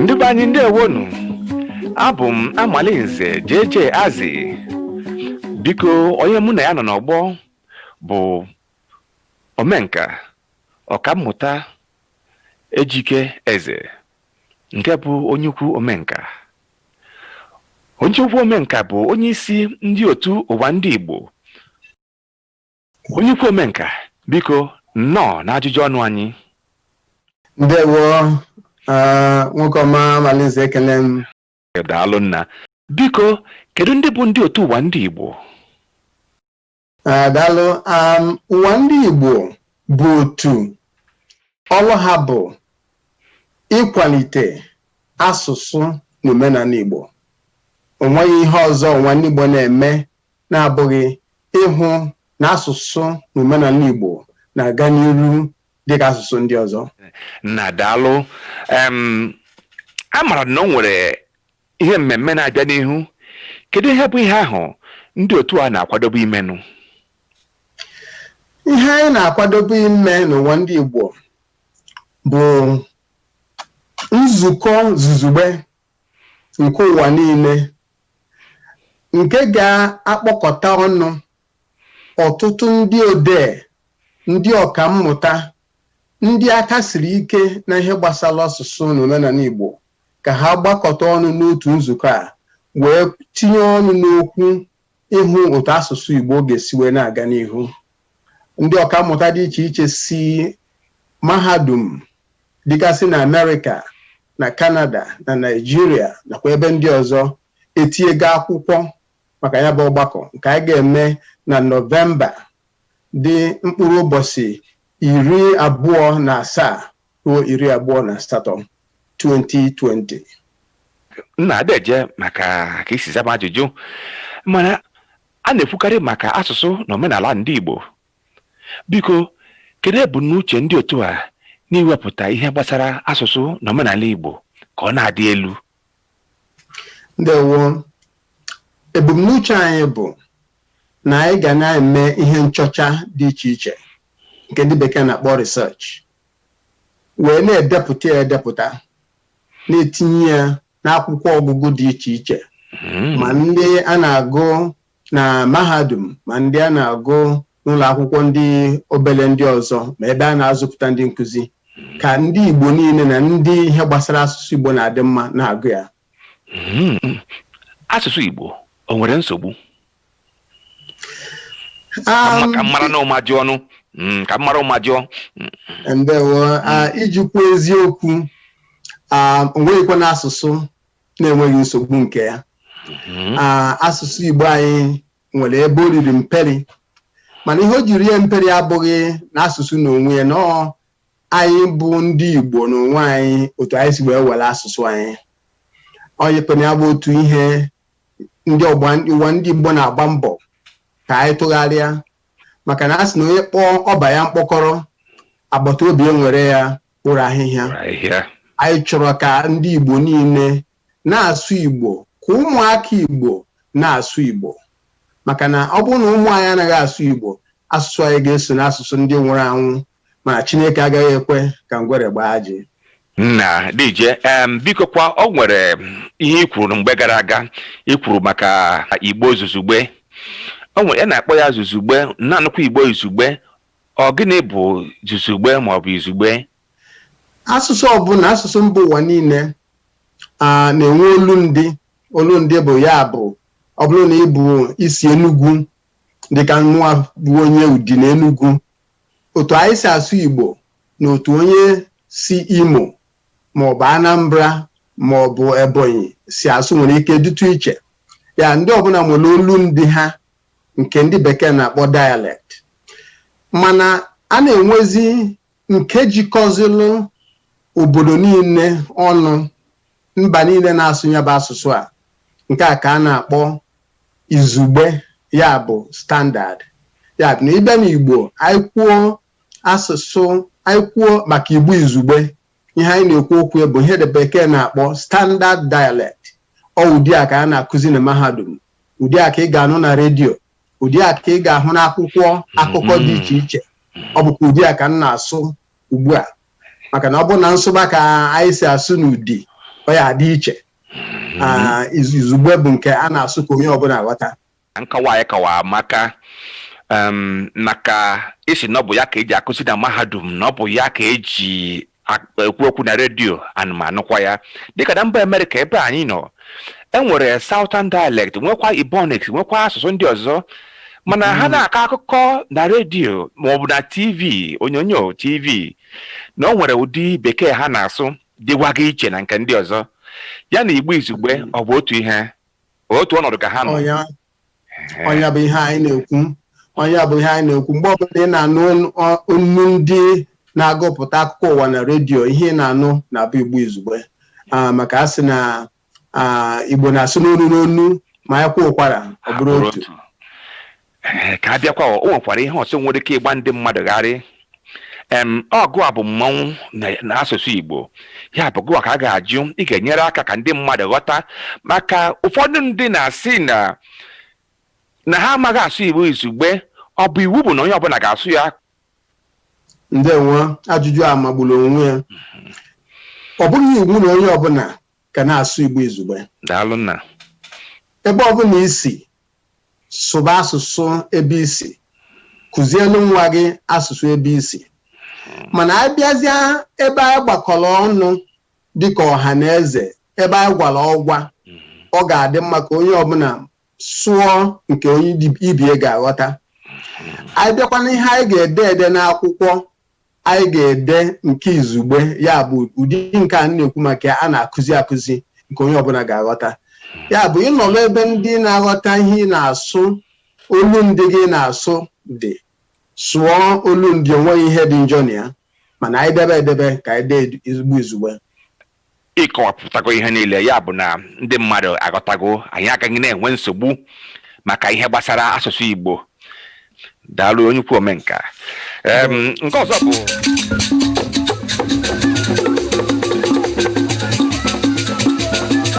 ndị be anyị ndewonụ abụ m amalinze JJ Azubuko onye mụ na ya nọ n'ọgbọ bụ omenka ọkammụta ejike eze nke bụ onye ukwu omenka onye ukwu omenka bụ onye isi ndị otu ụwa ndị Igbo onye ukwu omenka biko nnọọ na ajụjụ ọnụ anyị ndewo nwoke ọma Amalinze ekene m daalụ nna biko kedu ndị bụ ndị otu ụwa ndị Igbo daalụ ụwa ndị Igbo bụ otu ọlụ ha bụ ịkwalite asụsụ na omenala Igbo onweghị ihe ọzọ ụwa ndị Igbo na-eme na-abụghị ịhụ na asụsụ na omenala Igbo na-aga n'iru dịka asụsụ ndị ọzọ nna daalụ a mara na o nwere Ihe mmemme na-abịa n'ihu, kedu ihe bụ ihe ahụ ndị otu a na-akwadobe imenụ? Ihe anyị na-akwadobe ime n'ụwa ndị Igbo bụ nzukọ zuzugbe nke ụwa niile nke ga-akpọkọta ọnụ ọtụtụ ndị odee, ndị ọkammụta ndị aka siri ike na ihe gbasara asụsụ na omenala Igbo ka ha gbakọta ọnụ n'otu nzukọ a wee tinye ọnụ n'okwu ịhụ otu asụsụ Igbo ga-esi wee na-aga n'ihu ndị ọkammụta dị iche iche si mahadum dịgasị na Amerịka na Kanada na Naịjirịa nakwa ebe ndị ọzọ etinyego akwụkwọ maka ya bụ ọgbakọ nke anyị ga-eme na nọvemba dị mkpụrụ ụbọchị iri abụọ na asaa ruo iri abụọ na asatọ 2020 nna deje maka ka i si zaa m ajụjụ mana a na-ekwukarị maka asụsụ na omenala ndị Igbo biko kedu ebumnuche ndị otu a n'iwepụta ihe gbasara asụsụ na omenala Igbo ka ọ na-adị elu ndewo ebumnuche anyị bụ na anyị ga na-eme ihe nchọcha dị iche iche nke ndị bekee na-akpọ research wee na-edepụta ya edepụta na-etinye ya n'akwụkwọ ọgụgụ dị iche iche ma ndị a na-agụ na mahadum ma ndị a na-agụ n'ụlọ akwụkwọ ndị obere ndị ọzọ ma ebe a na-azụpụta ndị nkụzi ka ndị Igbo niile na ndị ihe gbasara asụsụ Igbo na-adị mma na-agụ ya hmm. asụsụ Igbo o nwere nsogbu um, ka m mara n'ụma jụọnụ hmm, ka m mara ụma jụọ ndewo iji kwuo eziokwu um, o nweghịkwanụ asụsụ na-enweghị nsogbu nke ya Mhm. Ah, asụsụ igbo anyị nwere ebe o riri mperi mana ihe o jiri rie mperi abụghị na asụsụ n'onwe ya na ọ anyị bụ ndị igbo n'onwe anyị otu anyị si wee were asụsụ anyị onyekpena ya bụ otu ihe ndị ọgba ụwa ndị igbo na-agba mbọ ka anyị tụgharịa maka na a sị na onye kpọọ ọba ya mkpọkọrọ agbataobi ewere ya kporo ahịhịa Kporo ahịhịa. anyị chọrọ ka ndị Igbo niile na-asụ Igbo ka ụmụaka Igbo na-asụ Igbo maka na ọ bụrụ na ụmụ anyị anaghị asụ Igbo asụsụ anyị ga-eso n'asụsụ ndị nwụrụ anwụ mana Chineke agaghị ekwe ka ngwere gbaa ajị nna dije em bikokwa o nwere ihe i kwuru mgbe gara aga i kwuru maka igbo zuzugbe o nwere a na-akpọ ya zuzugbe na-anụkwa igbo izugbe Ọ gịnị bụ zuzugbe maọbụ izugbe? Asụsụ ọbụla, asụsụ mba ụwa niile a na-enwe olundị. Olundị bụ ya bụ ọ bụrụ na ị bụ i si Enugwu dịka mụwa bụ onye Udi na Enugwu, otu anyị si asụ Igbo na otu onye si Imo maọbụ Anambra maọbụ Ebonyi si asụ nwere ike dịtụ iche. Ya ndị ọbụla nwere olundị ha nke ndị bekee na-akpọ dialect mana a na-enwezi nke jikọzilụ obodo niile ọnụ mba niile na-asụ ya bụ asụsụ a nke a ka a na-akpọ izugbe ya bụ standard ya bụ na ị bịa n'igbo anyị kwuo asụsụ anyị kwuo maka igbo izugbe ihe anyị na-ekwu okwu ya bụ ihe ndị bekee na-akpọ standard dialect ọ ụdị a ka a na-akụzi na mahadum ụdị a ka ị ga-anụ na redio ụdị a ka ị ga-ahụ n'akwụkwọ akụkọ dị iche iche ọ bụkwa ụdị a ka m na-asụ ugbu a maka na ọ bụrụ na m sụba ka anyị si asụ n'Udi ọ ya-adị iche Ah, iz- izugbe bụ nke a na-asụ ka onye ọbụla ghọta Nkọwa a ị kọwara maka um, na ka ị sị na ọ bụ ya ka e ji akụzi na mahadum na ọ bụ ya ka e ji ak- ekwu okwu na redio ana m anụkwa ya dịka na mba amerịka ebe anyị nọ e nwere southern dialect nwekwa ebonics nwekwa asụsụ ndị ọzọ mana ha na-akọ akụkọ na redio maọbụ na tv onyonyo tv na o nwere ụdị bekee ha na-asụ dịwaga iche na nke ndị ọzọ ya na igbo izugbe ọ bụ otu ihe otu ọnọdụ ka ha nọ ọ nya Ehe. ọ nya bụ ihe anyị na-ekwu ọ nya bụ ihe anyị na-ekwu mgbe ọbụla ị na-anụ onu- ọ- onu ndị na-agụpụta akụkọ ụwa na redio ihe ị na-anụ na-abụ igbo izugbe Ah, maka a sị na ah, igbo na-asụ n'onu n'onu ma anyị kwaa ụkwara ọ bụrụ A bụrụ otu otu. Ee, ka a bịakwa o nwekwara ihe ọzọ nwere ike ịgba ndị mmadụ gharị em ọ gụwa bụ mmanwụ na- n'asụsụ Igbo ya bụ gụwa ka a ga-ajụ ị ga-enyere aka ka ndị mmadụ ghọta maka ụfọdụ ndị na-asị na na ha amaghị asụ Igbo izugbe ọ bụ iwu bụ na onye ọbụla ga-asụ ya ndewo ajụjụ a magburu onwe ya ọ bụghị iwu na onye ọbụla ga na-asụ Igbo izugbe. Daalụ nna. Ebe ọbụla i si, sụba asụsụ ebe i si. Kụzielu nwa gị asụsụ ebe i si. Mana a bịazịa ebe anyị gbakọrọ ọnụ dịka ọha na eze, ebe anyị gwara ọgwa, ọ ga-adị mma ka onye ọbụla sụọ nke onye ibie ga-aghọta. Anyị bịakwa n'ihe anyị ga-ede ede n'akwụkwọ anyị ga-ede nke izugbe ya bụ ụdị nke a na-ekwu maka ya a na-akụzi akụzi nke onye ọbụla ga-aghọta ya bụ ị nọrọ ebe ndị na-aghọta ihe ị na-asụ olu ndị gị na-asụ gị sụọ olu ndị o nweghị ihe dị njọ na ya mana anyị debe edebe ka anyị deezi Igbo izugbe ị kọwapụtago ihe niile ya bụ na ndị mmadụ aghọtago anyị agaghị na-enwe nsogbu maka ihe gbasara asụsụ Igbo daalụ onye ukwu omenka Em, nke ọzọ bụ